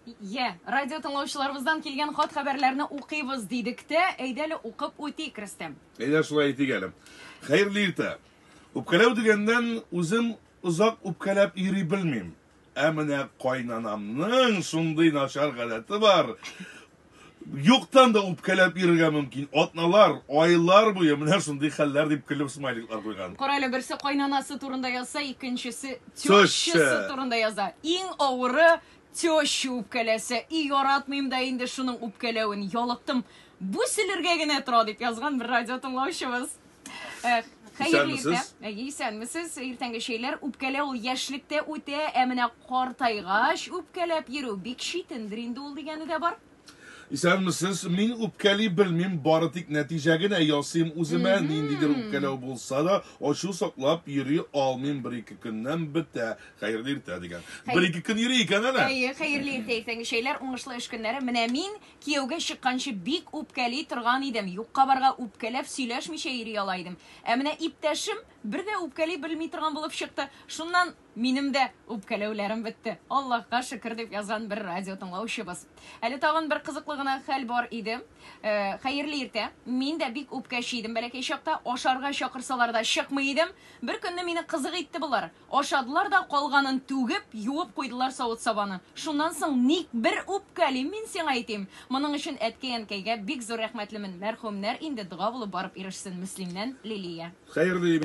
Йә, радио тыңлаучыларыбыздан килгән хат-хәбәрләрне укыйбыз дидек тә, әйдә әле укып үтик, Рөстәм. Әйдә, шулай итик әле. Хәерле иртә. Үпкәләү дигәннән, үзем озак үпкәләп йөри белмим. Ә менә кайнанамның шундый начар гадәте бар, Юктан да үпкәләп йөрергә мөмкин. Атналар, айлар буе менә шундый хәлләр дип көлеп смайликлар куйган. Кара әле, берсе кайнанасы турында язса, икенчесе тещасы турында яза. Иң авыры теща үпкәләсә. И, яратмыйм да инде шуның үпкәләвен, ялыктым. Бу сөлергә генә тора, дип язган бер радио тыңлаучыбыз. Э, Хәерле иртә. Исәнмесез. Э, Исәнмесез. Иртәнге чәйләр үпкәлә ул яшьлектә үтә, ә менә картайгач үпкәләп йөрү бик читендер инде ул дигәне дә бар. Исәнмесез. Мин үпкәли белмим, бары тик нәтиҗә генә ясыйм үземә. Ниндидер үпкәләү булса да, ачу саклап йөри алмыйм, бер-ике көннән бетә. Хәерле иртә дигән. Бер-ике көн йөри икән әле. Әйе, хәерле иртә, иртәнге чәйләр, уңышлы эш көннәре. Менә мин Кияүгә чыкканчы бик үпкәли торган идем, юкка-барга үпкәләп сөйләшмичә йөри ала идем. Ә менә иптәшем бер дә үпкәли белми торган булып чыкты. Шуннан минем дә үпкәләүләрем бетте. Аллаһка шөкер, дип язган бер радиотыңлаучыбыз. Әле тагын бер кызыклы гына хәл бар иде. Хәерле иртә. Мин дә бик үпкәче идем бәләкәй чакта, ашарга чакырсалар да чыкмый идем. Беркөнне мине кызык итте болар. Ашадылар да калганын түгеп, юып куйдылар савыт-сабаны. Шуннан соң ник бер үпкәлим мин сиңа, әйтим. Моның өчен әткәй-әнкәйгә бик зур рәхмәтлемен. Мәрхүмнәр инде дога булып барып ирешсен, Мөслимнән Лилия. Хәерле